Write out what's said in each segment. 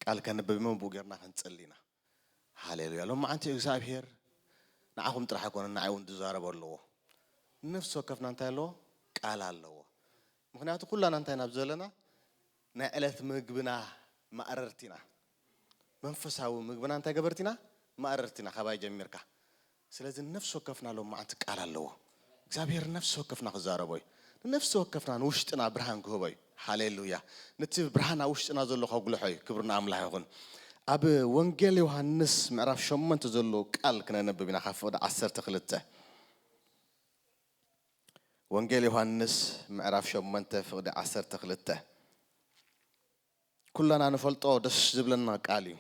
ቃል ከንብብ እሞ ብኡ ጌርና ክንጽሊ ኢና ሃሌሉያ ሎም መዓንቲ እግዚኣብሄር ንዓኹም ጥራሕ ኣይኮነ ንዓይ እውን ዝዛረቦ ኣለዎ ነፍሲ ወከፍና እንታይ ኣለዎ ቃል ኣለዎ ምክንያቱ ኩላና እንታይ ናብ ዘለና ናይ ዕለት ምግብና ማእረርቲ ኢና መንፈሳዊ ምግብና እንታይ ገበርቲ ኢና? ማእረርቲ ኢና ካባይ ጀሚርካ። ስለዚ ንነፍሲ ወከፍና ሎምዓንቲ ቃል ኣለዎ። እግዚኣብሄር ንነፍሲ ወከፍና ክዛረቦ እዩ። ንነፍሲ ወከፍና ንውሽጥና ብርሃን ክህቦ እዩ። ሃሌሉያ! ነቲ ብርሃን ኣብ ውሽጥና ዘሎ ከጉልሖ እዩ። ክብሪ ንኣምላኽ ይኹን። ኣብ ወንጌል ዮሃንስ ምዕራፍ ሸሞንተ ዘሎ ቃል ክነንብብ ኢና ካብ ፍቕዲ ዓሰርተ ክልተ። ወንጌል ዮሃንስ ምዕራፍ ሸሞንተ ፍቕዲ ዓሰርተ ክልተ። ኩላና ንፈልጦ ደስ ዝብለና ቃል እዩ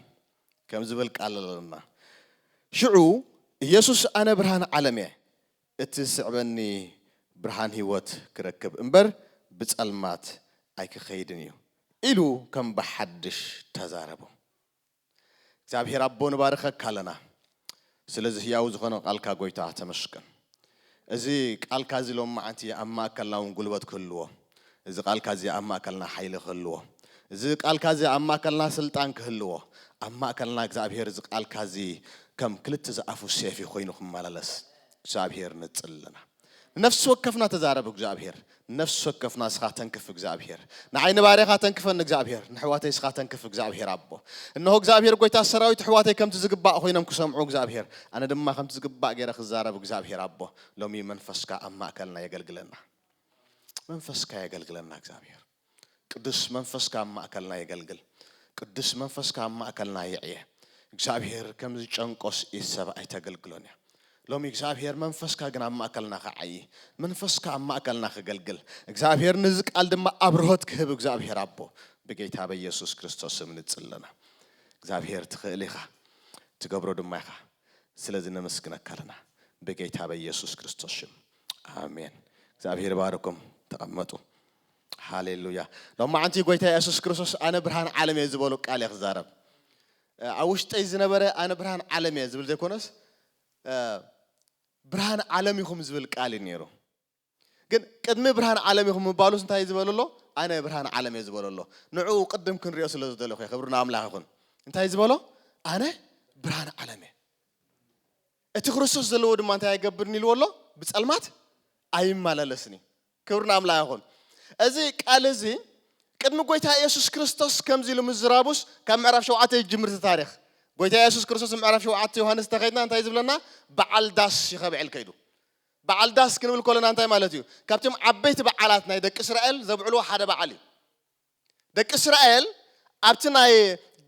ከም ዝብል ቃል ኣለና ሽዑ ኢየሱስ ኣነ ብርሃን ዓለም እየ እቲ ዝስዕበኒ ብርሃን ሕይወት ክረክብ እምበር ብጸልማት ኣይክኸይድን እዩ ኢሉ ከም ብሓድሽ ተዛረቦም። እግዚኣብሔር ኣቦ ንባርኸካ ኣለና ስለዚ ህያው ዝኾነ ቃልካ ጎይታ ተመስገን እዚ ቃልካ እዚ ሎም መዓንቲ ኣብ ማእከልና ውን ጉልበት ክህልዎ እዚ ቃልካ እዚ ኣብ ማእከልና ሓይሊ ክህልዎ እዚ ቃልካ እዚ ኣብ ማእከልና ስልጣን ክህልዎ ኣብ ማእከልና እግዚኣብሔር እዚ ቃልካ እዚ ከም ክልተ ዝኣፉ ሴፍ ኮይኑ ክመላለስ እግዚኣብሔር ንጽሊ ኣለና ንነፍሲ ወከፍና ተዛረብ እግዝኣብሄር ንነፍሲ ወከፍና እስኻ ተንክፍ እግዝኣብሄር ንዓይ ንባርያኻ ተንክፈኒ እግዝኣብሄር ንሕዋተይ እስኻ ተንክፍ እግዝኣብሄር ኣቦ እነሆ እግዝኣብሄር ጎይታ ሰራዊት ኣሕዋተይ ከምቲ ዝግባእ ኮይኖም ክሰምዑ እግዝኣብሄር ኣነ ድማ ከምቲ ዝግባእ ገይረ ክዛረብ እግዝኣብሄር ኣቦ ሎሚ መንፈስካ ኣብ ማእከልና የገልግለና መንፈስካ የገልግለና እግዝኣብሄር ቅዱስ መንፈስካ ኣብ ማእከልና የገልግል ቅዱስ መንፈስካ ኣብ ማእከልና ይዕየ እግዚኣብሄር ከም ዝጨንቆስ ኢድ ሰብ ኣይተገልግሎን እያ ሎሚ እግዚኣብሄር መንፈስካ ግን ኣብ ማእከልና ክዓዪ መንፈስካ ኣብ ማእከልና ክገልግል እግዚኣብሄር ንዚ ቃል ድማ ኣብርሆት ክህብ እግዚኣብሄር ኣቦ ብጌታ በኢየሱስ ክርስቶስ ስም ንጽለና እግዚኣብሄር ትኽእል ኢኻ ትገብሮ ድማ ኢኻ ስለዚ ነመስግነካ ኣለና ብጌታ በኢየሱስ ክርስቶስ ሽም ኣሜን እግዚኣብሄር ባርኩም ተቐመጡ ሃሌሉያ ሎማዓንቲ ጎይታ የሱስ ክርስቶስ ኣነ ብርሃን ዓለም እየ ዝበሎ ቃል እየ ክዛረብ ኣብ ውሽጠይ ዝነበረ ኣነ ብርሃን ዓለም እየ ዝብል ዘይኮነስ ብርሃን ዓለም ኢኹም ዝብል ቃል እዩ ነይሩ ግን ቅድሚ ብርሃን ዓለም ኢኹም ምባሉስ እንታይ እዩ ዝበለሎ ኣነ ብርሃን ዓለም እየ ዝበለሎ ንዕኡ ቅድም ክንሪኦ ስለ ዝደለኹ እየ ክብሪ ንኣምላኽ ይኹን እንታይ ዝበሎ ኣነ ብርሃን ዓለም እየ እቲ ክርስቶስ ዘለዎ ድማ እንታይ ኣይገብርን ኢልዎ ኣሎ ብፀልማት ኣይመላለስን እዩ ክብሪ ናምላክ ይኹን እዚ ቃል እዚ ቅድሚ ጎይታ የሱስ ክርስቶስ ከምዚ ኢሉ ምዝራቡስ ካብ ምዕራፍ ሸውዓተ ይጅምር እቲ ታሪክ ጎይታ የሱስ ክርስቶስ ንምዕራፍ ሸውዓተ ዮሃንስ ተኸድና እንታይ ዝብለና በዓል ዳስ ይኸብዕል ከይዱ በዓል ዳስ ክንብል ኮለና እንታይ ማለት እዩ ካብቶም ዓበይቲ በዓላት ናይ ደቂ እስራኤል ዘብዕልዎ ሓደ በዓል እዩ ደቂ እስራኤል ኣብቲ ናይ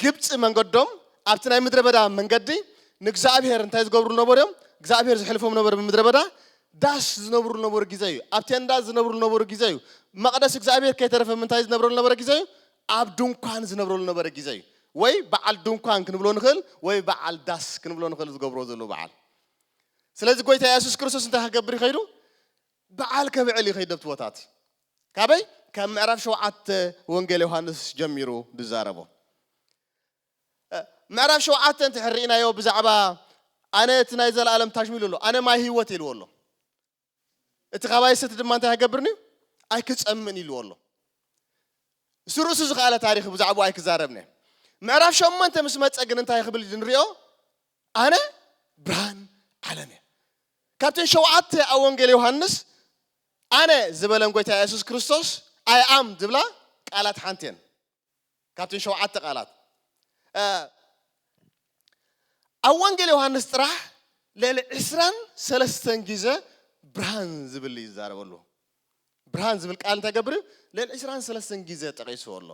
ግብጺ መንገዶም ኣብቲ ናይ ምድረ በዳ መንገዲ ንእግዚኣብሔር እንታይ ዝገብርሉ ነበሩ እዮም? እግዚኣብሔር ዘሕልፎም ነበረ ብምድረ በዳ ዳስ ዝነብርሉ ነበሩ ግዜ እዩ። ኣብ ቴንዳ ዝነብርሉ ነበሩ ግዜ እዩ። መቕደስ እግዚኣብሔር ከይተረፈ ምንታይ ዝነብረሉ ነበረ ግዜ እዩ? ኣብ ድንኳን ዝነብረሉ ነበረ ግዜ እዩ። ወይ በዓል ድንኳን ክንብሎ ንኽእል ወይ በዓል ዳስ ክንብሎ ንኽእል ዝገብርዎ ዘለዉ በዓል። ስለዚ ጎይታ የሱስ ክርስቶስ እንታይ ክገብር ይኸይዱ? በዓል ከብዕል ይኸይድ ኣብቲ ቦታቲ። ካበይ ካብ ምዕራፍ ሸውዓተ ወንጌል ዮሃንስ ጀሚሩ ዝዛረቦ ምዕራፍ ሸውዓተ እንተ ርኢናዮ ብዛዕባ ኣነ እቲ ናይ ዘለኣለም ታሽሙ ኢሉ ኣሎ ኣነ ማይ ህይወት ኢልዎ ኣሎ እቲ ካባይ ሰቲ ድማ እንታይ ኣይገብርን እዩ ኣይክፀምን ኢልዎ ኣሎ እሱ ርእሱ ዝኸኣለ ታሪክ ብዛዕባ ኣይክዛረብነ ምዕራፍ ሸሞንተ ምስ መፀ ግን እንታይ ክብል ንሪኦ ኣነ ብርሃን ዓለም እየ ካብተን ሸውዓተ ኣብ ወንጌል ዮሃንስ ኣነ ዝበለን ጎይታ የሱስ ክርስቶስ፣ I am፣ ዝብላ ቃላት ሓንቲ እየን ካብተን ሸውዓተ ቃላት። ኣብ ወንጌል ዮሃንስ ጥራሕ ልዕሊ ዕስራን ሰለስተን ግዘ ብርሃን ዝብል እዩ ዝዛረበሉ። ብርሃን ዝብል ቃል እንታይ ገብር እዩ? ልዕሊ ዕስራን ሰለስተን ግዘ ጠቂስዎ ኣሎ።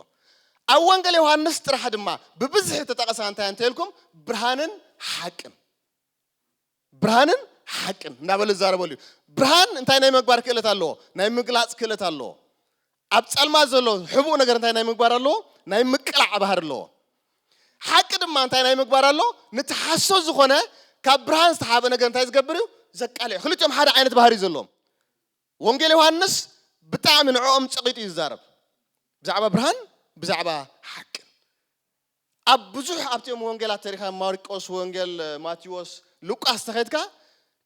ኣብ ወንጌል ዮሃንስ ጥራሕ ድማ ብብዝሒ ተጠቐሳ እንታይ እንተኢልኩም ብርሃንን ሓቅን። ብርሃንን ሓቅን እንዳበለ ዝዛረበሉ እዩ። ብርሃን እንታይ ናይ ምግባር ክእለት ኣለዎ? ናይ ምግላፅ ክእለት ኣለዎ። ኣብ ፀልማት ዘሎ ሕቡእ ነገር እንታይ ናይ ምግባር ኣለዎ? ናይ ምቅላዕ ባህሪ ኣለዎ። ሓቂ ድማ እንታይ ናይ ምግባር ኣሎ? ነቲ ሓሶት ዝኾነ ካብ ብርሃን ዝተሓበ ነገር እንታይ ዝገብር እዩ? ዘቃልዕ እዩ። ክልቲኦም ሓደ ዓይነት ባህሪ እዩ ዘለዎም። ወንጌል ዮሃንስ ብጣዕሚ ንዕኦም ፀቒጡ እዩ ዝዛረብ ብዛዕባ ብርሃን ብዛዕባ ሓቅን። ኣብ ብዙሕ ኣብቲኦም ወንጌላት ተሪኻ ማርቆስ ወንጌል ማቴዎስ ሉቃስ ተኸድካ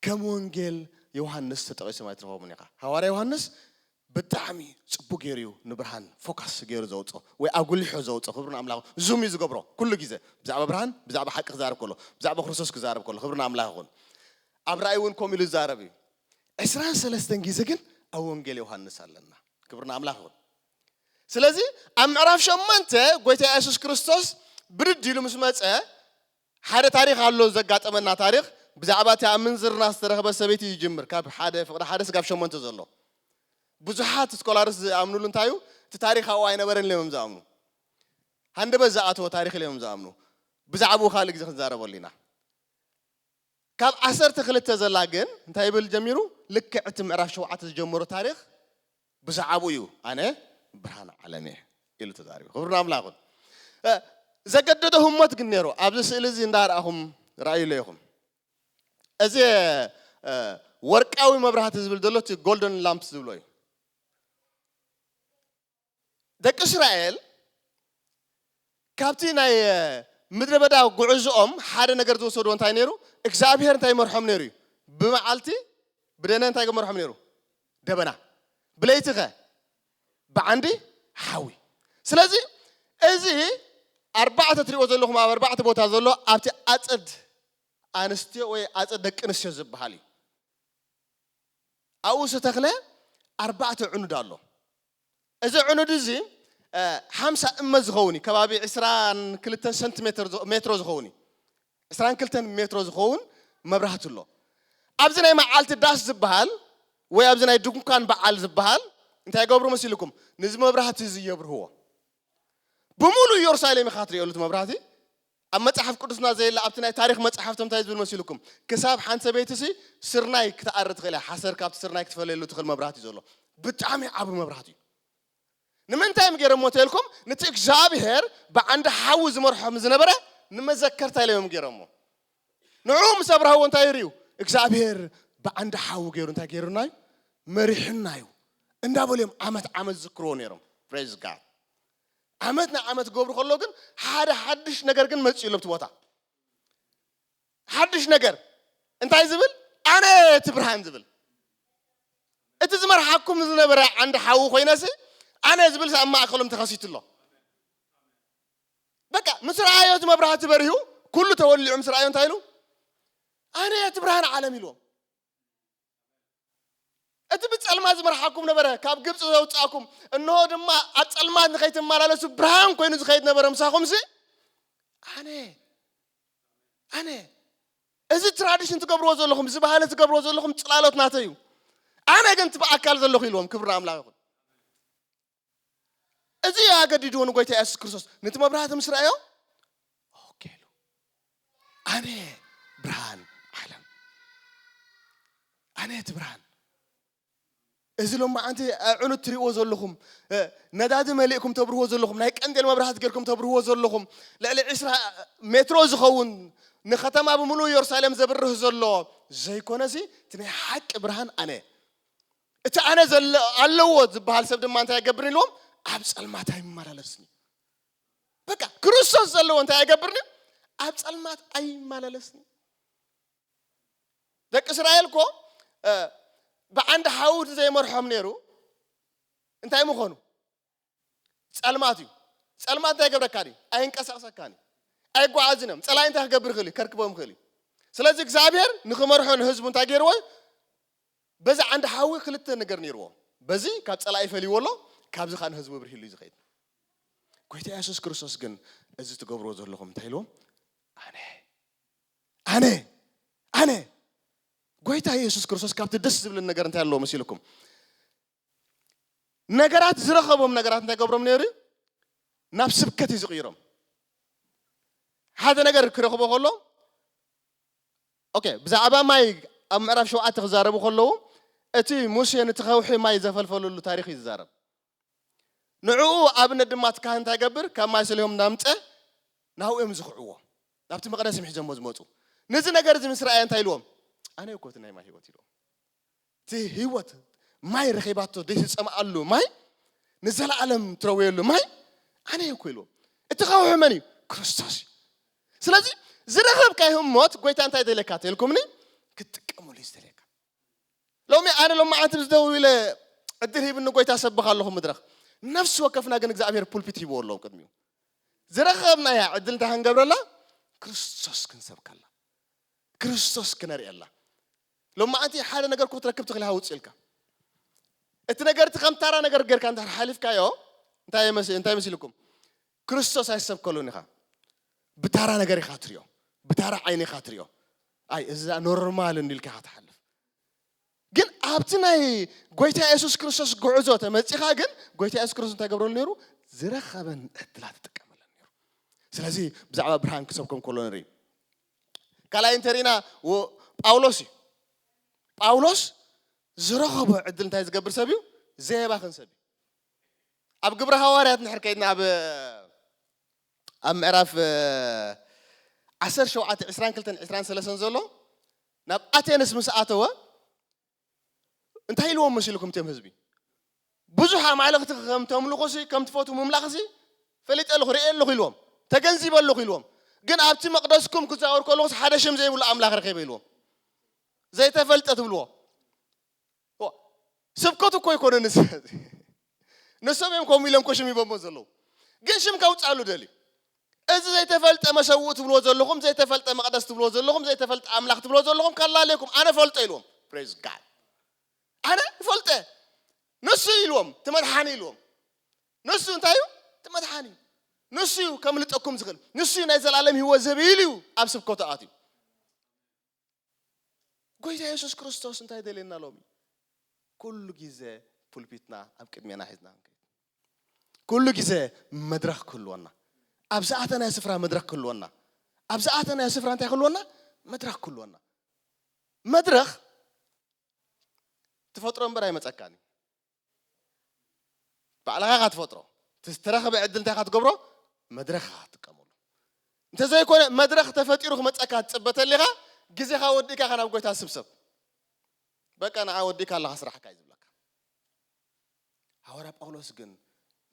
ከም ወንጌል ዮሃንስ ተጠቒሶም ኣይትረኽቦምን ኢኻ ሃዋርያ ዮሃንስ ብጣዕሚ ጽቡቅ ገይሩ እዩ ንብርሃን ፎካስ ገይሩ ዘውጾ ወይ ኣጉሊሖ ዘውጾ ክብሪ ንኣምላኽ ዙም እዩ ዝገብሮ ኩሉ ግዜ ብዛዕባ ብርሃን ብዛዕባ ሓቂ ክዛረብ ከሎ ብዛዕባ ክርስቶስ ክዛረብ ከሎ ክብሪ ንኣምላኽ ይኹን ኣብ ራእይ እውን ከምኡ ኢሉ ዝዛረብ እዩ ዕስራን ሰለስተን ግዜ ግን ኣብ ወንጌል ዮሃንስ ኣለና ክብሪ ንኣምላኽ ይኹን ስለዚ ኣብ ምዕራፍ ሸሞንተ ጎይታ የሱስ ክርስቶስ ብድድ ኢሉ ምስ መጸ ሓደ ታሪኽ ኣሎ ዘጋጠመና ታሪኽ ብዛዕባ እቲ ኣብ ምንዝርና ዝተረኽበ ሰበይቲ እዩ ጅምር ካብ ሓደ ፍቅሪ ሓደ ስጋብ ሸሞንተ ዘሎ ብዙሓት ስኮላርስ ዝኣምኑሉ እንታይ እዩ እቲ ታሪኽ ኣብኡ ኣይነበረን ኢሎም እዮም ዝኣምኑ ሃንደበት ዝኣተወ ታሪኽ ኢሎም እዮም ዝኣምኑ ብዛዕባኡ ካልእ ግዜ ክንዛረበሉ ኢና ካብ ዓሰርተ ክልተ ዘላ ግን እንታይ ይብል ጀሚሩ ልክዕ እቲ ምዕራፍ ሸውዓተ ዝጀመሮ ታሪኽ ብዛዕብኡ እዩ ኣነ ብርሃን ዓለም እየ ኢሉ ተዛሪቡ ክብሪ ንኣምላኽ ይኹን እ፣ ዘገደዶ ህሞት ግን ነይሩ ኣብዚ ስእሊ እዚ እንዳርኣኹም ርኣዩለይ ኢኹም እዚ እ፣ ወርቃዊ መብራህቲ ዝብል ዘሎ እቲ ጎልደን ላምፕስ ዝብሎ እዩ ደቂ እስራኤል ካብቲ ናይ ምድረ በዳ ጉዕዝኦም ሓደ ነገር ዝወሰድዎ እንታይ ነይሩ? እግዚኣብሄር እንታይ ይመርሖም ነይሩ እዩ? ብመዓልቲ ብደነ እንታይ ገመርሖም ነይሩ? ደበና። ብለይቲ ከ ብዓንዲ ሓዊ። ስለዚ እዚ ኣርባዕተ ትሪኦ ዘለኹም ኣብ ኣርባዕተ ቦታ ዘሎ ኣብቲ ኣፀድ ኣንስትዮ ወይ ኣፀድ ደቂ ኣንስትዮ ዝበሃል እዩ። ኣብኡ ዝተኽለ ኣርባዕተ ዕኑድ ኣሎ። እዚ ዕኑድ እዚ ሓምሳ እመ ዝኸውን እዩ፣ ከባቢ ዕስራን ክልተን ሰንቲ ሜትሮ ዝኸውን እዩ፣ ዕስራን ክልተን ሜትሮ ዝኸውን መብራህቲ ኣሎ። ኣብዚ ናይ መዓልቲ ዳስ ዝበሃል ወይ ኣብዚ ናይ ድንኳን በዓል ዝበሃል እንታይ ይገብሩ መሲልኩም? ንዚ መብራህቲ እዚ የብርህዎ። ብምሉእ ኢየሩሳሌም ኢኻ ትርእዮ እቲ መብራህቲ፣ ኣብ መጽሓፍ ቅዱስና ዘየለ ኣብቲ ናይ ታሪኽ መጽሓፍቲ እንታይ ዝብል መሲሉኩም ክሳብ ሓንቲ ሰበይቲሲ ስርናይ ክትኣሪ ትኽእል እያ ሓሰር ካብቲ ስርናይ ክትፈለየሉ ትኽእል መብራህቲ እዩ ዘሎ ብጣዕሚ ዓቢ መብራህቲ እዩ ንምንታይ እዮም ገይሮሞ ተልኩም ነቲ እግዚኣብሄር ብዓንዲ ሓዊ ዝመርሖም ዝነበረ ንመዘከርታ ኢሎም ገይሮሞ ንዕኡ ምስ ኣብርሃዎ እንታይ ይርዩ እግዚኣብሄር ብዓንዲ ሓዊ ገይሩ እንታይ ገይሩና እዩ መሪሕና እዩ እንዳበሉ እዮም ዓመት ዓመት ዝዝክርዎ ነይሮም ፕሬዝ ጋድ ዓመት ንዓመት ክገብሩ ከሎ ግን ሓደ ሓድሽ ነገር ግን መፅኡ ኣሎ ኣብቲ ቦታ ሓድሽ ነገር እንታይ ዝብል ኣነ እቲ ብርሃን ዝብል እቲ ዝመርሓኩም ዝነበረ ዓንዲ ሓዊ ኮይነሲ ኣነ ዝብልሲ ኣብ ማእከሎም ተኸሲቱ ኣሎ በቃ ምስ ረኣዮ እቲ መብራህቲ በሪሁ ኩሉ ተወሊዑ ምስ ረኣዮ እንታይ ኢሉ ኣነ እቲ ብርሃን ዓለም ኢልዎም እቲ ብጸልማት ዝመርሓኩም ነበረ ካብ ግብጺ ዘውጻእኩም እንሆ ድማ ኣብ ጸልማት ንኸይትመላለሱ ብርሃን ኮይኑ ዝኸይድ ነበረ ምሳኹምሲ ኣነ ኣነ እዚ ትራዲሽን ትገብርዎ ዘለኹም እዚ ባህሊ ትገብርዎ ዘለኹም ጽላሎት ናተይ እዩ ኣነ ግን እቲ ብኣካል ዘለኹ ኢልዎም ክብሪ ኣምላኽ ይኹን እዚ እዩ ኣገዲድዎ ንጎይታ ኢየሱስ ክርስቶስ ነቲ መብራህቲ ምስ ረኣዮ ኦኬ ኢሉ ኣነ ብርሃን ዓለም ኣነ እቲ ብርሃን እዚ ሎማዓንቲ ኣዕኑት ትሪእዎ ዘለኹም ነዳዲ መሊእኩም ተብርህዎ ዘለኹም ናይ ቀንዴል መብራህቲ ጌርኩም ተብርህዎ ዘለኹም ልዕሊ ዕስራ ሜትሮ ዝኸውን ንከተማ ብምሉእ ኢየሩሳሌም ዘብርህ ዘሎ ዘይኮነሲ እቲ ናይ ሓቂ ብርሃን ኣነ እቲ ኣነ ዘለ ኣለዎ ዝበሃል ሰብ ድማ እንታይ ኣይገብርን ኢልዎም ኣብ ጸልማት ኣይመላለስን እዩ በቃ ክርስቶስ ዘለዎ እንታይ ኣይገብርን እዩ ኣብ ጸልማት ኣይመላለስን እዩ ደቂ እስራኤል እኮ ብዓንዲ ሓዊ ዘይመርሖም ነይሩ እንታይ ምኾኑ ጸልማት እዩ። ጸልማት እንታይ ይገብረካ ድዩ? ኣየንቀሳቕሰካን እዩ። ኣይጓዓዝን እዮም። ጸላኢ እንታይ ክገብር ይኽእል እዩ? ከርክቦም ይኽእል እዩ። ስለዚ እግዚኣብሔር ንክመርሖ ንህዝቡ እንታይ ገይርዎ እዩ? በዚ ዓንዲ ሓዊ ክልተ ነገር ነይርዎ። በዚ ካብ ጸላኢ ፈልይዎ ኣሎ፣ ካብዚ ከዓ ንህዝቡ ብርሂሉ እዩ ዝኸይድ። ጎይታ ኢየሱስ ክርስቶስ ግን እዚ ትገብርዎ ዘለኹም እንታይ ኢልዎም? ኣነ ኣነ ኣነ ጎይታ ኢየሱስ ክርስቶስ ካብቲ ደስ ዝብልን ነገር እንታይ ኣለዎ መሲልኩም? ነገራት ዝረኸቦም ነገራት እንታይ ገብሮም ነይሩ እዩ ናብ ስብከት እዩ ዝቕይሮም ሓደ ነገር ክረኽቦ ከሎ ኦኬ ብዛዕባ ማይ ኣብ ምዕራፍ ሸውዓተ ክዛረቡ ከለዉ እቲ ሙሴ ነቲ ከውሒ ማይ ዘፈልፈለሉ ታሪክ እዩ ዝዛረብ ንዕኡ ኣብነት ድማ እቲ ካህን እንታይ ይገብር ካብ ማይ ሰሊሆም እናምፀ ናብኡ እዮም ዝኽዕዎ ናብቲ መቕደስ እዮም ሒዞሞ ዝመፁ ነዚ ነገር እዚ ምስ ረኣየ እንታይ ኢልዎም ኣነ እኮ እቲ ናይ ማይ ሂወት ኢልዎም እቲ ህይወት ማይ ረኺባቶ ዘይትጸምኣሉ ማይ ንዘለኣለም ትረውየሉ ማይ ኣነ እየ እኮ ኢልዎም እቲ ከውሒ መን እዩ ክርስቶስ እዩ ስለዚ ዝረኸብካ ህሞት ጎይታ እንታይ ደልየካ ተልኩምኒ ክትጥቀመሉ እዩ ዝደልየካ ሎሚ ኣነ ሎም መዓልቲ ምስ ደው ኢለ ዕድል ሂብኒ ጎይታ ሰብኽ ኣለኹ ምድረኽ ነፍሲ ወከፍና ግን እግዚኣብሔር ፑልፒት ሂብዎ ኣለዉ ቅድሚኡ ዝረኸብናያ ዕድል እንታይ ክንገብረላ ክርስቶስ ክንሰብከላ ክርስቶስ ክነርእየላ ሎማዓንቲ ሓደ ነገር እኮ ክትረክብ ትኽእል ሃውፅ ኢልካ እቲ ነገር እቲ ከም ታራ ነገር ጌርካ እንድሕር ሓሊፍካዮ እንታይ መስ- እንታይ መሲልኩም ክርስቶስ ኣይሰብከሉን ኢኻ ብታራ ነገር ኢኻ ትሪኦ ብታራ ዓይኒ ኢኻ ትሪኦ ኣይ እዚ ደኣ ኖርማል እንዲ ኢልካ ኢኻ ትሓልፍ ግን ኣብቲ ናይ ጎይታ የሱስ ክርስቶስ ጉዕዞ ተመፂኻ ግን ጎይታ የሱስ ክርስቶስ እንታይ ገብረሉ ነይሩ ዝረኸበን ዕድላት ይጥቀመለን ነይሩ ስለዚ ብዛዕባ ብርሃን ክሰብከም ከሎ ንርኢ ካልኣይ እንተሪእና ጳውሎስ እዩ ጳውሎስ ዝረኸቦ ዕድል እንታይ ዝገብር ሰብ እዩ ዘየባኽን ሰብ እዩ ኣብ ግብረ ሃዋርያት ንሕር ከይድና ኣብ ኣብ ምዕራፍ ዓሰር ሸውዓተ ዕስራን ክልተን ዕስራን ሰለሰን ዘሎ ናብ ኣቴንስ ምስ ኣተወ እንታይ ኢልዎም መሲልኩም እትም ህዝቢ ብዙሕ ኣማልኽቲ ከም ተምልኹሲ ከም ትፈቱ ምምላኽሲ ፈሊጠ ኣለኹ ርኤ ኣለኹ ኢልዎም ተገንዚበ ኣለኹ ኢልዎም ግን ኣብቲ መቕደስኩም ክዛወር ከለኹስ ሓደ ሽም ዘይብሉ ኣምላኽ ረኺበ ኢልዎም ዘይተፈልጠ ትብልዎ ስብከቱ እኮ ኣይኮነን እዚ ንሶም እዮም ከምኡ ኢሎም እኮ ሽም ሂቦሞ ዘለዉ ግን ሽም ከውፅኣሉ ደልዩ እዚ ዘይተፈልጠ መሰውእ ትብልዎ ዘለኹም ዘይተፈልጠ መቕደስ ትብልዎ ዘለኹም ዘይተፈልጠ ኣምላኽ ትብልዎ ዘለኹም ከላለየኩም ኣነ ፈልጦ ኢልዎም ፕሬዝ ጋድ ኣነ ይፈልጠ ንሱ ኢልዎም ትመድሓኒ ኢልዎም ንሱ እንታይ እዩ ትመድሓኒ እዩ ንሱ እዩ ከምልጠኩም ዝኽእል ንሱ እዩ ናይ ዘላለም ህይወት ዝህብ ኢሉ እዩ ኣብ ስብከቱ ኣትዩ ጎይታ የሱስ ክርስቶስ እንታይ ይደልየና ሎሚ? ኩሉ ግዜ ፑልፒትና ኣብ ቅድሜና ሒዝና ክንከይድ። ኩሉ ግዜ መድረኽ ክህልወና። ኣብ ዝኣተናዮ ስፍራ መድረኽ ክህልወና። ኣብ ዝኣተናዮ ስፍራ እንታይ ክህልወና? መድረኽ ክህልወና። መድረኽ ትፈጥሮ እምበር ኣይመጸካን እዩ። ባዕልኻ ኢኻ ትፈጥሮ እቲ ዝተረኸበ ዕድል እንታይ ኢኻ ትገብሮ መድረኽ ኢኻ ትጥቀመሉ እንተዘይኮነ መድረኽ ተፈጢሩ ክመፀካ ትፅበ ተሊኻ ግዜኻ ወዲእካ ኢኻ ናብ ጎይታ ስብሰብ በቃ ንዓ ወዲእካ ኣለኻ ስራሕካ እዩ ዝብለካ ሃዋርያ ጳውሎስ ግን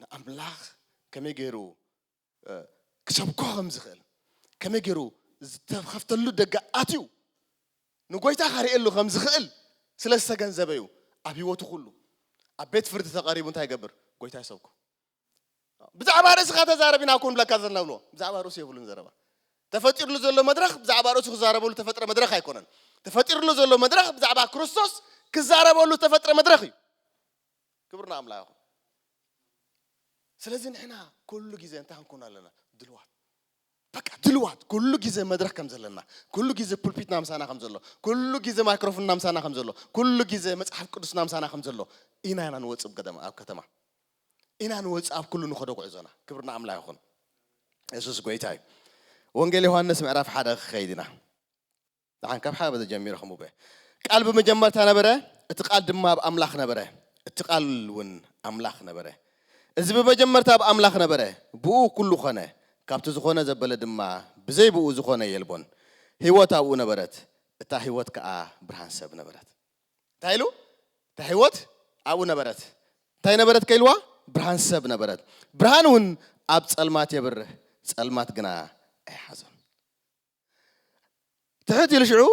ንኣምላኽ ከመይ ገይሩ ክሰብኮ ከም ዝኽእል ከመይ ገይሩ ዝተኸፍተሉ ደገ ኣትዩ ንጎይታ ከርእየሉ ከም ዝኽእል ስለ ዝተገንዘበ እዩ ኣብ ህይወቱ ኩሉ ኣብ ቤት ፍርዲ ተቐሪቡ እንታይ ይገብር ጎይታ ይሰብኮ ብዛዕባ ርእስኻ ተዛረብ ኢና እኮ ንብለካ ዘለና ብሎ ብዛዕባ ርእሱ የብሉን ዘረባ ተፈጢርሉ ዘሎ መድረኽ ብዛዕባ ርእሱ ክዛረበሉ ተፈጥረ መድረኽ ኣይኮነን ተፈጢርሉ ዘሎ መድረኽ ብዛዕባ ክርስቶስ ክዛረበሉ ተፈጥረ መድረኽ እዩ ክብር ንኣምላኽ ይኹን። ስለዚ ንሕና ኩሉ ግዜ እንታይ ክንኮን ኣለና? ድልዋት በቃ ድልዋት ኩሉ ግዜ መድረክ ከም ዘለና ኩሉ ግዜ ፑልፒትና ምሳና ከም ዘሎ ኩሉ ግዜ ማይክሮፎንና ምሳና ከም ዘሎ ኩሉ ግዜ መጽሓፍ ቅዱስና ምሳና ከም ዘሎ ኢና ኢና ንወጽእ ኣብ ገደማ ኣብ ከተማ ኢና ንወጽእ ኣብ ኩሉ ንኸዶ ጉዕዞና ክብሪ ንኣምላኽ ይኹን የሱስ ጎይታ እዩ ወንጌል ዮሃንስ ምዕራፍ ሓደ ክኸይድ ኢና ንዓን ካብ ሓደ በዚ ጀሚረ ኸምኡበ ቃል ብመጀመርታ ነበረ፣ እቲ ቃል ድማ ኣብ ኣምላኽ ነበረ፣ እቲ ቃልውን ኣምላኽ ነበረ። እዚ ብመጀመርታ ኣብ ኣምላኽ ነበረ፣ ብእኡ ኩሉ ኾነ፣ ካብቲ ዝኾነ ዘበለ ድማ ብዘይ ብእኡ ዝኾነ የልቦን። ህይወት ኣብኡ ነበረት፣ እታ ህይወት ከኣ ብርሃን ሰብ ነበረት። እንታይ ኢሉ? እታ ህይወት ኣብኡ ነበረት፣ እንታይ ነበረት ከ ኢልዋ? ብርሃን ሰብ ነበረት፣ ብርሃንውን ኣብ ጸልማት የብርህ፣ ጸልማት ግና ኣይሓዞን። ትሕት ኢሉ ሽዑ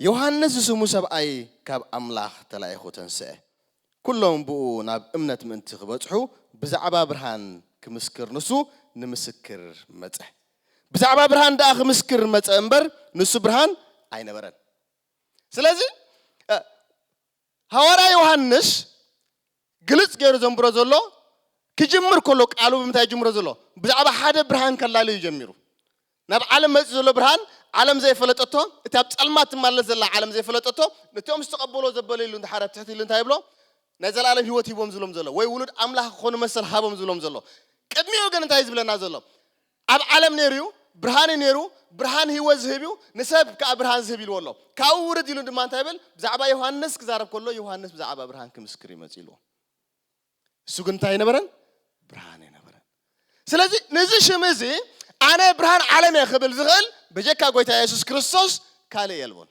ዮሃንስ ዝስሙ ሰብኣይ ካብ ኣምላኽ ተላኢኹ ተንስአ። ኩሎም ብእኡ ናብ እምነት ምእንቲ ክበጽሑ ብዛዕባ ብርሃን ክምስክር ንሱ ንምስክር መጸ። ብዛዕባ ብርሃን ደኣ ክምስክር መጸ እምበር ንሱ ብርሃን ኣይነበረን። ስለዚ ሃዋርያ ዮሃንስ ግልጽ ገይሩ ዘንብሮ ዘሎ ክጅምር ከሎ ቃሉ ብምንታይ ይጅምሮ ዘሎ ብዛዕባ ሓደ ብርሃን ከላልዩ ጀሚሩ ናብ ዓለም መጺኡ ዘሎ ብርሃን ዓለም ዘይፈለጠቶ እቲ ኣብ ጸልማት ትማለስ ዘላ ዓለም ዘይፈለጠቶ ነቶም ዝተቐበሎ ዘበለ ኢሉ እንድሓር ኣብ ትሕቲ ኢሉ እንታይ ይብሎ ናይ ዘላለም ህይወት ሂቦም ዝብሎም ዘሎ ወይ ውሉድ ኣምላኽ ክኾኑ መሰል ሃቦም ዝብሎም ዘሎ ቅድሚኡ ግን እንታይ ዝብለና ዘሎ ኣብ ዓለም ነይሩ እዩ፣ ብርሃን እዩ ነይሩ፣ ብርሃን ህይወት ዝህብ እዩ፣ ንሰብ ከኣ ብርሃን ዝህብ ኢልዎ ኣሎ። ካብኡ ውርድ ኢሉ ድማ እንታይ ይብል? ብዛዕባ ዮሃንስ ክዛረብ ከሎ፣ ዮሃንስ ብዛዕባ ብርሃን ክምስክር እዩ መጺኡ ኢልዎ። ንሱ ግን እንታይ ኣይነበረን? ብርሃን ኣይነበረን። ስለዚ ነዚ ሽም እዚ ኣነ ብርሃን ዓለም እየ ክብል ዝኽእል በጀካ ጎይታ የሱስ ክርስቶስ ካልእ የልቦን።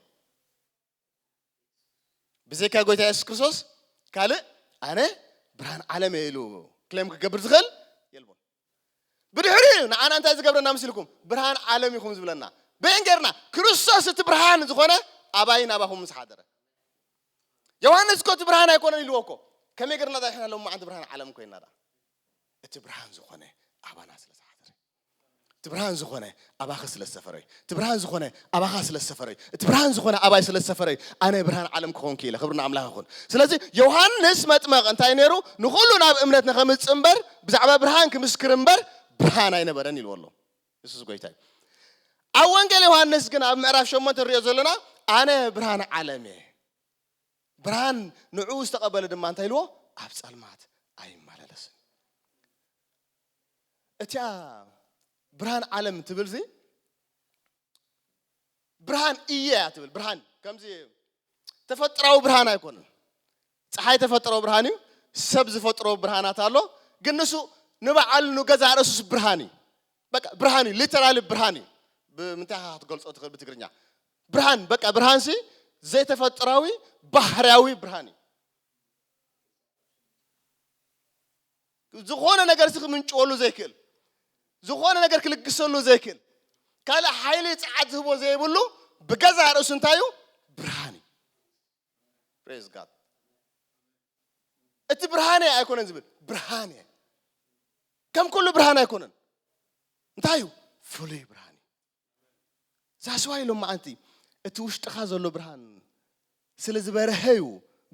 ብዘይካ ጎይታ የሱስ ክርስቶስ ካልእ ኣነ ብርሃን ዓለም እየ ኢሉ ክሌም ክገብር ዝኽእል የልቦን ብድሕሪ እዩ ንዓና እንታይ ዝገብረና ምስልኩም ብርሃን ዓለም ኢኹም ዝብለና በን ገርና ክርስቶስ እቲ ብርሃን ዝኾነ ኣባይ ናባኹም ምስ ሓደረ ዮሃንስ እኮ እቲ ብርሃን ኣይኮነን ኢልዎ እኮ ከመይ ገርና ዳሕና ሎም መዓንቲ ብርሃን ዓለም ኮይና ዳ እቲ ብርሃን ዝኾነ ኣባና ስለ ዝሓደረ እቲ ብርሃን ዝኾነ ኣባኺ ስለ ዝሰፈረ እዩ። እቲ ብርሃን ዝኾነ ኣባኻ ስለ ዝሰፈረ እዩ። እቲ ብርሃን ዝኾነ ኣባይ ስለ ዝሰፈረ እዩ ኣነ ብርሃን ዓለም ክኾን ክኢለ። ክብሪ ንኣምላኽ ይኹን። ስለዚ ዮሃንስ መጥመቕ እንታይ ነይሩ? ንኹሉ ናብ እምነት ንኸምጽእ እምበር ብዛዕባ ብርሃን ክምስክር እምበር ብርሃን ኣይነበረን ኢልዎ ኣሎ። ንሱስ ጎይታ እዩ። ኣብ ወንጌል ዮሃንስ ግን ኣብ ምዕራፍ ሸሞንተ ንሪኦ ዘለና ኣነ ብርሃን ዓለም እየ ብርሃን ንዕኡ ዝተቐበለ ድማ እንታይ ኢልዎ ኣብ ጸልማት ኣይመላለስን እቲኣ ብርሃን ዓለም ትብልዚ ብርሃን እየ እያ ትብል ብርሃን ከምዚ ተፈጥራዊ ብርሃን ኣይኮነን ፀሓይ ተፈጥሮ ብርሃን እዩ ሰብ ዝፈጥሮ ብርሃናት ኣሎ ግን ንሱ ንበዓሉ ንገዛ ርእሱስ ብርሃን እዩ በቃ ብርሃን እዩ ሊተራሊ ብርሃን እዩ ብምንታይ ኢኻ ክትገልፆ ትኽእል ብትግርኛ ብርሃን በቃ ብርሃን ሲ ዘይተፈጥራዊ ባህርያዊ ብርሃን እዩ ዝኾነ ነገር እዚ ክምንጭወሉ ዘይክእል፣ ዝኾነ ነገር ክልግሰሉ ዘይክእል፣ ካልእ ሓይሊ ጸዓት ዝህቦ ዘይብሉ ብገዛእ ርእሱ እንታይ እዩ? ብርሃን እዩ። ፕሬዝ ጋድ። እቲ ብርሃን እየ ኣይኮነን ዝብል ብርሃን እየ ከም ኩሉ ብርሃን ኣይኮነን እንታይ እዩ ፍሉይ ብርሃን እዩ ዛስዋይ ሎ መዓንቲ እቲ ውሽጥኻ ዘሎ ብርሃን ስለ ዝበርሀ እዩ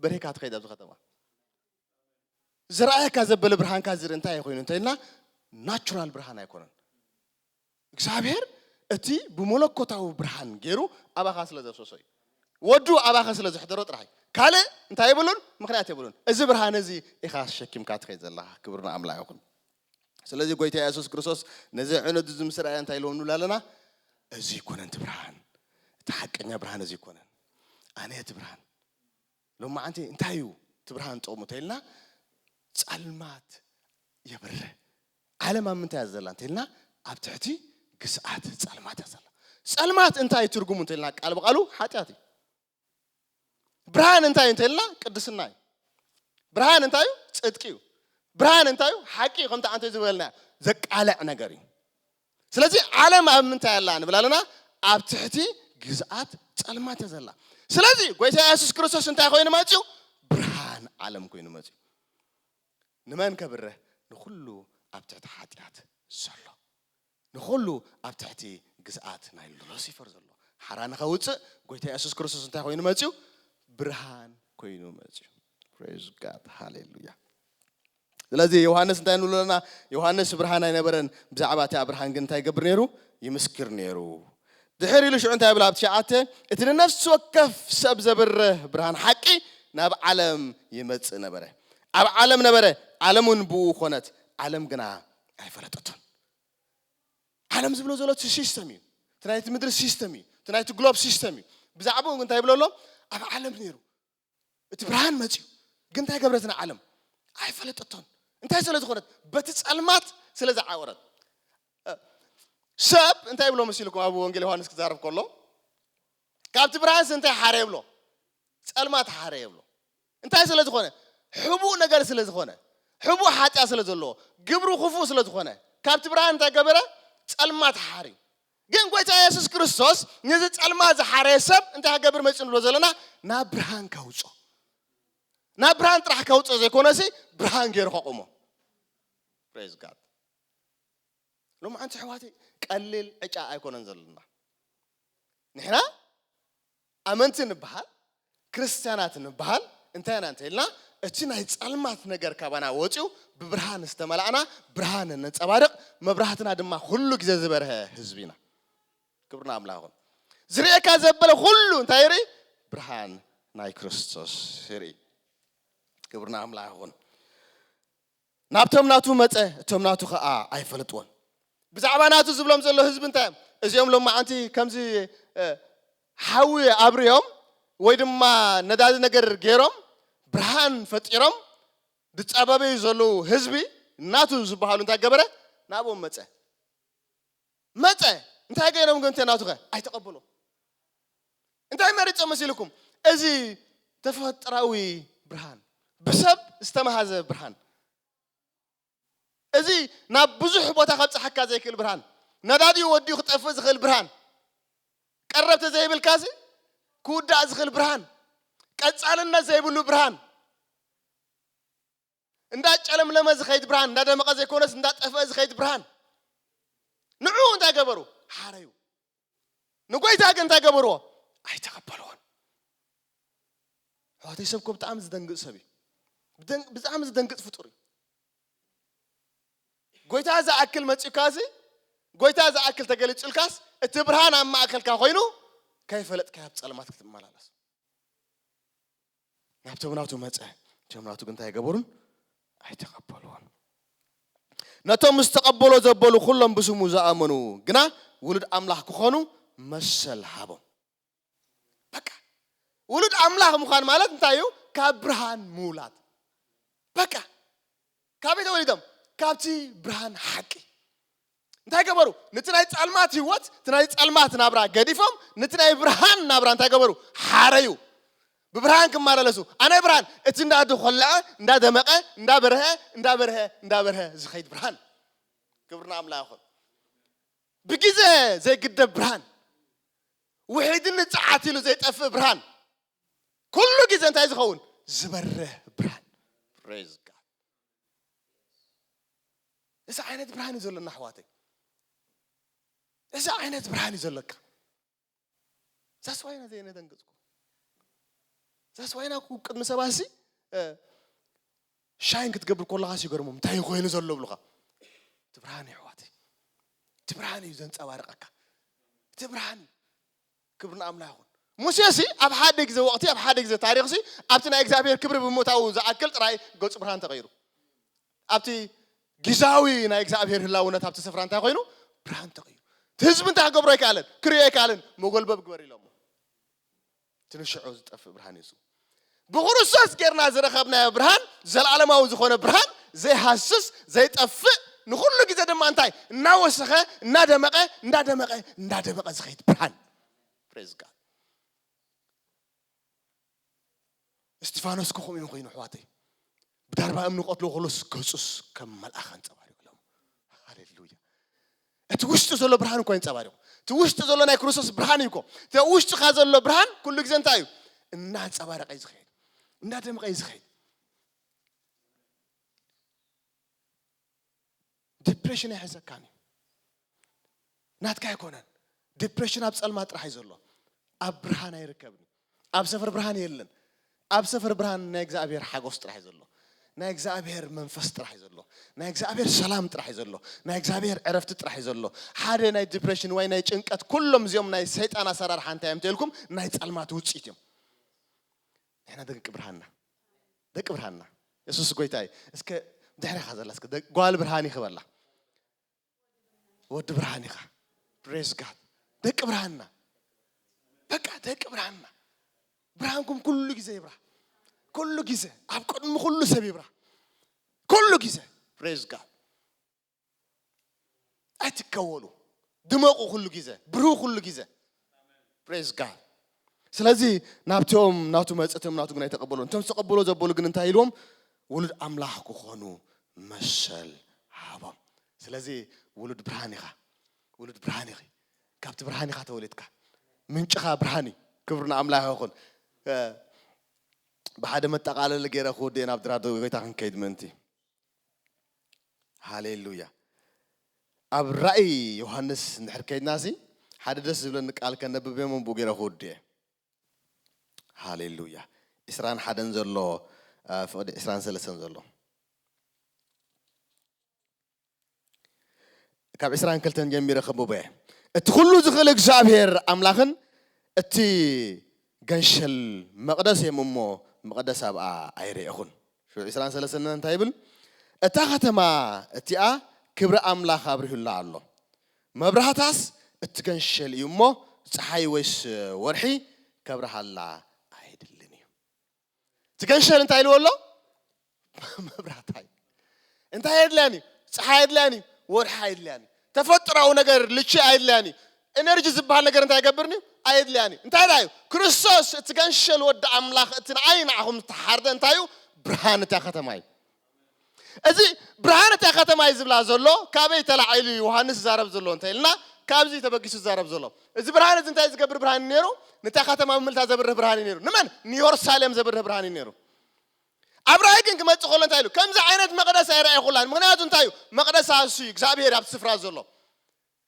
በሪህካ ትኸይድ ኣብዚ ከተማ ዝረኣየካ ዘበለ ብርሃንካ ዝር እንታይ ኮይኑ እንተኢልና ናቹራል ብርሃን ኣይኮነን እግዚኣብሔር እቲ ብመለኮታዊ ብርሃን ገይሩ ኣባኻ ስለ ዘፍሰሶ እዩ ወዱ ኣባኸ ስለ ዘሕደሮ ጥራሕ ካልእ እንታይ የብሉን ምክንያት የብሉን እዚ ብርሃን እዚ ኢኻ ሸኪምካ ትኸይ ዘለኻ ክብርና ኣምላኽ ይኹን ስለዚ ጎይታ የሱስ ክርስቶስ ነዚ ዕኑድ እዚ ምስ ረኣየ እንታይ ኢልዎ ንብል ኣለና? እዚ ኣይኮነን እቲ ብርሃን፣ እቲ ሓቀኛ ብርሃን እዚ ኣይኮነን። ኣነ እቲ ብርሃን። ሎማዓንቲ እንታይ እዩ እቲ ብርሃን ጥቕሙ እንተኢልና ጸልማት የብርህ። ዓለም ኣብ ምንታይ እያ ዘላ እንተኢልና ኣብ ትሕቲ ግስኣት ጸልማት እያ ዘላ። ጸልማት እንታይ እዩ ትርጉሙ እንተኢልና ቃል ብቓሉ ሓጢኣት እዩ። ብርሃን እንታይ እዩ እንተልና ቅድስና እዩ ብርሃን እንታይ እዩ ፅድቂ እዩ ብርሃን እንታይ እዩ ሓቂ እዩ ከምቲ ኣንተ ዝበልና ዘቃልዕ ነገር እዩ ስለዚ ዓለም ኣብ ምንታይ ኣላ ንብል ኣለና ኣብ ትሕቲ ግዝኣት ፀልማት እያ ዘላ ስለዚ ጎይታ የሱስ ክርስቶስ እንታይ ኮይኑ መፅኡ ብርሃን ዓለም ኮይኑ መፅኡ ንመን ከብርህ ንኩሉ ኣብ ትሕቲ ሓጢኣት ዘሎ ንኹሉ ኣብ ትሕቲ ግዝኣት ናይ ሉሲፈር ዘሎ ሓራ ንኸውጽእ ጎይታ የሱስ ክርስቶስ እንታይ ኮይኑ መጽዩ ብርሃን ኮይኑ መጽዩ ፕሬዝ ጋድ ሃሌሉያ ስለዚ ዮሃንስ እንታይ ንብሎ ኣለና ዮሃንስ ብርሃን ኣይነበረን ብዛዕባ እቲ ብርሃን ግን እንታይ ይገብር ነይሩ ይምስክር ነይሩ ድሕር ኢሉ ሽዑ እንታይ ብላ ኣብ ትሽዓተ እቲ ንነፍሲ ወከፍ ሰብ ዘብርህ ብርሃን ሓቂ ናብ ዓለም ይመጽእ ነበረ ኣብ ዓለም ነበረ ዓለም እውን ብኡ ኮነት ዓለም ግና ኣይፈለጠቶን ዓለም ዝብሎ ዘሎ እቲ ሲስተም እዩ እቲ ናይቲ ምድሪ ሲስተም እዩ እቲ ናይቲ ግሎብ ሲስተም እዩ ብዛዕባኡ እንታይ ይብሎ ኣሎ ኣብ ዓለም ነይሩ እቲ ብርሃን መፅዩ ግን እንታይ ገብረትን ዓለም ኣይፈለጠቶን እንታይ ስለ ዝኾነት በቲ ፀልማት ስለ ዝዓወረት ሰብ እንታይ ይብሎ መሲልኩም ኣብ ወንጌል ዮሃንስ ክዛረብ ከሎ ካብቲ ብርሃንስ እንታይ ሓረ የብሎ ፀልማት ሓረ የብሎ እንታይ ስለ ዝኾነ? ሕቡእ ነገር ስለ ዝኾነ፣ ሕቡእ ሓጢኣት ስለ ዘለዎ፣ ግብሩ ክፉእ ስለ ዝኾነ፣ ካብቲ ብርሃን እንታይ ገበረ? ጸልማት ሓርዩ። ግን ጎይታ የሱስ ክርስቶስ ነዚ ጸልማት ዝሓረየ ሰብ እንታይ ክገብር መጺኡ ንብሎ ዘለና? ናብ ብርሃን ከውጽኦ። ናብ ብርሃን ጥራሕ ከውጽኦ ዘይኮነሲ ብርሃን ገይሩ ከቑሞ። ፕሬዝ ጋድ። ሎማዓንቲ ኣሕዋተይ ቀሊል ዕጫ ኣይኮነን ዘለና ንሕና ኣመንቲ ንበሃል፣ ክርስትያናት ንበሃል፣ እንታይ ኢና እንተ ኢልና፣ እቲ ናይ ጸልማት ነገር ካባና ወጺኡ ብብርሃን ዝተመላእና፣ ብርሃን እነንጸባርቕ፣ መብራህትና ድማ ኹሉ ግዜ ዝበርሀ ህዝቢ ኢና። ክብሪ ንኣምላኽ ይኹን። ዝርእየካ ዘበለ ኹሉ እንታይ ይርኢ? ብርሃን ናይ ክርስቶስ ይርኢ። ክብሪ ንኣምላኽ ይኹን። ናብቶም ናቱ መጸ፣ እቶም ናቱ ኸኣ ኣይፈለጥዎን። ብዛዕባ ናቱ ዝብሎም ዘሎ ህዝቢ እንታይ እዮም? እዚኦም ሎማዓንቲ ከምዚ ሓዊ ኣብርዮም ወይ ድማ ነዳዲ ነገር ገይሮም ብርሃን ፈጢሮም ዝጻበበዩ ዘለዉ ህዝቢ ናቱ ዝበሃሉ እንታይ ገበረ? ናብኦም መጸ። መጸ እንታይ ገይሮም ግን ተናቱኸ ኣይተቐበሉ እንታይ መሪጾም መሲልኩም እዚ ተፈጥራዊ ብርሃን ብሰብ ዝተመሃዘ ብርሃን እዚ ናብ ብዙሕ ቦታ ከብፅሓካ ዘይክእል ብርሃን ነዳዲኡ ወዲኡ ክጠፍእ ዝኽእል ብርሃን ቀረብቲ ዘይብልካ እዚ ክውዳእ ዝኽእል ብርሃን ቀፃልነት ዘይብሉ ብርሃን እንዳጨለምለመ ዝኸይድ ብርሃን፣ እንዳደመቐ ዘይኮነስ እንዳጠፍአ ዝኸይድ ብርሃን፣ ንዑ እንታይ ገበሩ? ሓረዩ። ንጎይታ ግን እንታይ ገበርዎ? ኣይተቐበልዎን። ኣሕዋተይ ሰብ እኮ ብጣዕሚ ዝደንግፅ ሰብ እዩ። ብጣዕሚ ዝደንግፅ ፍጡር እዩ። ጎይታ ዝኣክል መፂኡካ እዚ ጎይታ ዝኣክል ተገሊፁልካስ እቲ ብርሃን ኣብ ማእከልካ ኮይኑ ከይፈለጥካ ኣብ ፀልማት ክትመላለስ ናብቶም ናቱ መጸ፣ እቶም ናቱ ግን እንታይ ኣይገበሩን? ኣይተቐበልዎን። ነቶም ምስ ተቐበሎ ዘበሉ ኩሎም ብስሙ ዝኣመኑ ግና ውሉድ ኣምላኽ ክኾኑ መሰል ሃቦም። በቃ ውሉድ ኣምላኽ ምዃን ማለት እንታይ እዩ? ካብ ብርሃን ምውላድ በቃ ካበይ ተወሊዶም? ካብቲ ብርሃን ሓቂ። እንታይ ገበሩ? ነቲ ናይ ጻልማት ህይወት፣ እቲ ናይ ጻልማት ናብራ ገዲፎም ነቲ ናይ ብርሃን ናብራ እንታይ ገበሩ? ሓረዩ። ብብርሃን ክመላለሱ ኣነ ብርሃን እቲ እንዳ ተኾለዐ እንዳ ደመቐ እንዳ በርሀ እንዳ በርሀ እንዳ በርሀ ዝኸይድ ብርሃን ክብሪ ንኣምላኽ ይኹን። ብግዜ ዘይግደብ ብርሃን፣ ውሒድን ንጽዓት ኢሉ ዘይጠፍእ ብርሃን። ኩሉ ግዜ እንታይ ዝኸውን ዝበርህ ብርሃን ፕሬዝ ጋድ እዚ ዓይነት ብርሃን እዩ ዘለና ኣሕዋተይ እዚ ዓይነት ብርሃን እዩ ዘለካ ዛስ ዋይና ዘየነደንግፅኩ ዛስ ዋይና ቅድሚ ሰባት ሲ ሻይን ክትገብር ከለካ ሲገርሞም እንታይ እዩ ኮይኑ ዘሎ ብሉካ እቲ ብርሃን እዩ ኣሕዋተይ እቲ ብርሃን እዩ ዘንፀባርቐካ እቲ ብርሃን እዩ ክብሪ ንኣምላኽ ይኹን። ሙሴሲ ኣብ ሓደ ግዜ ወቕቲ፣ ኣብ ሓደ ግዜ ታሪኽሲ ኣብቲ ናይ እግዚኣብሄር ክብሪ ብምእታዉ ዝኣክል ጥራይ ገጹ ብርሃን ተቐይሩ። ኣብቲ ጊዛዊ ናይ እግዚኣብሄር ህላውነት ኣብቲ ስፍራ እንታይ ኮይኑ? ብርሃን ተቐይሩ። እቲ ህዝቢ እንታይ ክገብሮ ኣይከኣለን? ክርእዮ ኣይከኣለን። መጎልበብ ግበር ኢሎሞ። እቲ ንሽዑ ዝጠፍእ ብርሃን እዩ እሱ። ብክርስቶስ ጌርና ዝረኸብናዮ ብርሃን ዘለዓለማዊ ዝኾነ ብርሃን ዘይሃስስ ዘይጠፍእ ንኹሉ ግዜ ድማ እንታይ እናወሰኸ እናደመቐ እንዳደመቐ እንዳደመቐ ዝኸይድ ብርሃን ፕሬዝ ጋድ እስጢፋኖስ ከኹም እዮም ኮይኑ ኣሕዋተይ ብዳርባ እምኒ ክቐትልዎ ከሎስ ገጹስ ከም መልኣኽ ኣንጸባሪቑሎም። ሃሌሉያ! እቲ ውሽጢ ዘሎ ብርሃን እኮ የንጸባሪቑ። እቲ ውሽጢ ዘሎ ናይ ክርስቶስ ብርሃን እዩ እኮ። እቲ ኣብ ውሽጥኻ ዘሎ ብርሃን ኩሉ ግዜ እንታይ እዩ? እናንጸባረቐ እዩ ዝኸይድ፣ እናደምቐ እዩ ዝኸይድ። ዲፕሬሽን ኣይሕዘካን እዩ ናትካ ኣይኮነን ዲፕሬሽን ኣብ ጸልማት ጥራሕ እዩ ዘሎ ኣብ ብርሃን ኣይርከብን እዩ ኣብ ሰፈር ብርሃን የለን ኣብ ሰፈር ብርሃን ናይ እግዚኣብሔር ሓጎስ ጥራሕ እዩ ዘሎ ናይ እግዚኣብሔር መንፈስ ጥራሕ እዩ ዘሎ ናይ እግዚኣብሔር ሰላም ጥራሕ እዩ ዘሎ ናይ እግዚኣብሔር ዕረፍቲ ጥራሕ እዩ ዘሎ ሓደ ናይ ዲፕሬሽን ወይ ናይ ጭንቀት ኩሎም እዚኦም ናይ ሰይጣን ኣሰራርሓ እንታይ እዮም ተልኩም ናይ ጸልማት ውፅኢት እዮም ንሕና ደቂ ብርሃንና ደቂ ብርሃንና የሱስ ጎይታ እዩ እስከ ድሕሪኻ ዘላ እስከ ደ- ጓል ብርሃን ኢኺ በላ ወዲ ብርሃን ኢኻ ፕሬዝ ጋድ ደቂ ብርሃንና በቃ ደቂ ብርሃንና ብርሃንኩም ኩሉ ግዜ ይብራህ ኩሉ ግዜ ኣብ ቅድሚ ኩሉ ሰብ ይብራህ ኩሉ ግዜ ፕሬዝ ጋድ ኣይትከወሉ ድመቑ ኩሉ ግዜ ብርሁ ኩሉ ግዜ ፕሬዝ ጋድ ስለዚ ናብቶም ናቱ መፅእቶም ናቱ ግን ኣይተቐበሉ እቶም ዝተቐበሎ ዘበሉ ግን እንታይ ኢልዎም ውሉድ ኣምላኽ ክኾኑ መሰል ሃቦም ስለዚ ውሉድ ብርሃን ኢኻ ውሉድ ብርሃን ኢኺ ካብቲ ብርሃን ኢኻ ተወሊድካ ምንጭኻ ብርሃን እዩ ክብሪ ንኣምላኽ ይኹን ብሓደ መጠቓለሊ ገይረ ክውድእ ናብ ድራዶ ጎይታ ክንከይድ ምእንቲ ሃሌሉያ ኣብ ራእይ ዮሃንስ እንድሕር ከይድና ሲ ሓደ ደስ ዝብለኒ ቃል ከነብብ እሞ ብኡ ገይረ ክወዱ እየ ሃሌሉያ ዕስራን ሓደን ዘሎ ፍቕዲ ዕስራን ሰለስተን ዘሎ ካብ ዕስራን ክልተን ጀሚረ ከንብቦ እየ። እቲ ኩሉ ዝኽእል እግዚኣብሔር ኣምላኽን እቲ ገንሸል መቕደስ እዮም እሞ መቕደስ ኣብኣ ኣይረኤኹን። ሹዕ ዕስራን ሰለስተን እንታይ ይብል? እታ ኸተማ እቲኣ ክብሪ ኣምላኽ ኣብሪሁላ ኣሎ፣ መብራህታስ እቲ ገንሸል እዩ እሞ ፀሓይ ወይስ ወርሒ ከብርሃላ ኣይድልን እዩ። እቲ ገንሸል እንታይ ኢልዎ ኣሎ መብራት ሃይል እንታይ ኣየድልያን እዩ ፀሓይ ኣየድልያን እዩ ወርሒ ኣየድልያን እዩ ተፈጥራዊ ነገር ልቺ ኣየድልያን እዩ ኤነርጂ ዝበሃል ነገር እንታይ ይገብርኒ እዩ ኣየድልያን እዩ እንታይ ደኣ እዩ ክርስቶስ እቲ ገንሸል ወዲ ኣምላኽ እቲ ንዓይ ንዓኹም ዝተሓርደ እንታይ እዩ ብርሃን እታ ከተማ እዩ እዚ ብርሃን እታ ከተማ እዩ ዝብላ ዘሎ ካበይ ተላዒሉ እዩ ዮሃንስ ዝዛረብ ዘሎ እንተ ኢልና ካብዚ ተበጊሱ ዝዛረብ ዘሎ እዚ ብርሃን እዚ እንታይ ዝገብር ብርሃን እዩ ነይሩ ንታ ከተማ ምልታ ዘብርህ ብርሃን እዩ ነይሩ ንመን ንዮርሳሌም ዘብርህ ብርሃን እዩ ነይሩ ኣብ ራእይ ግን ክመፅእ ከሎ እንታይ ኢሉ ከምዚ ዓይነት መቕደስ ኣይረኣይኹላን ምክንያቱ እንታይ እዩ መቕደስ ኣሱ እዩ እግዚኣብሄር ኣብቲ ስፍራ ዘሎ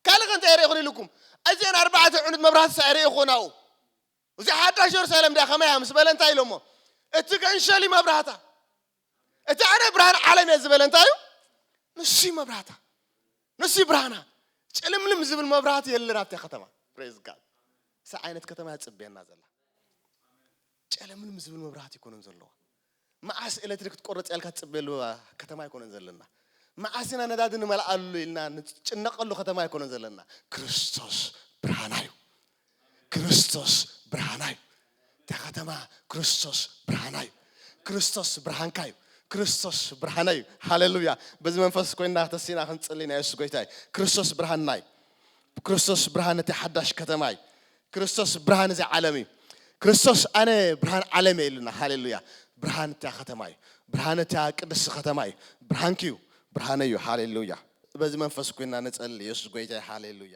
ካልእ ከ እንታይ ርኢኹን ኢልኩም እዚአን ኣርባዕተ ዕኑድ መብራህትስ ኣይርኢኹን ኣብኡ እዚኣ ሓዳሽ የሩሳሌም ድያ ከመይ እያ ምስ በለ እንታይ ኢሎሞ እቲ ግዕንሸል እዩ መብራህታ እቲ ኣነ ብርሃን ዓለም እየ ዝበለ እንታይ እዩ ንሱ እዩ መብራህታ ንሱ እዩ ብርሃና ጭልምልም ዝብል መብራህቲ የለን ኣብታ ከተማ ፕሬዝ ጋድ እዚ ዓይነት ከተማ እያ ፅበየና ዘላ ጨለምልም ዝብል መብራህቲ ይኮነን ዘለዎ መዓስ ኤለትሪክ ክትቆርጽ እያ ኢልካ ትጽበየሉ ከተማ ኣይኮነን ዘለና። መዓስ ኢና ነዳዲ ንመልኣሉ ኢልና ንጭነቐሉ ከተማ ኣይኮነን ዘለና። ክርስቶስ ብርሃና እዩ። ክርስቶስ ብርሃና እዩ። እታ ከተማ ክርስቶስ ብርሃና እዩ። ክርስቶስ ብርሃንካ እዩ። ክርስቶስ ብርሃና እዩ። ሃሌሉያ! በዚ መንፈስ ኮይና ተሲና ክንጽሊ ናይ የሱስ ጎይታ እዩ። ክርስቶስ ብርሃንና እዩ። ክርስቶስ ብርሃን እቲ ሓዳሽ ከተማ እዩ። ክርስቶስ ብርሃን እዚ ዓለም እዩ። ክርስቶስ ኣነ ብርሃን ዓለም እየ ኢሉና። ሃሌሉያ! ብርሃን እታ ከተማ እዩ። ብርሃን እታ ቅድስቲ ከተማ እዩ። ብርሃንኪ እዩ። ብርሃነይ እዩ። ሃሌሉያ! በዚ መንፈስ ኮይና ንጸሊ። የሱስ ጎይታ እዩ። ሃሌሉያ!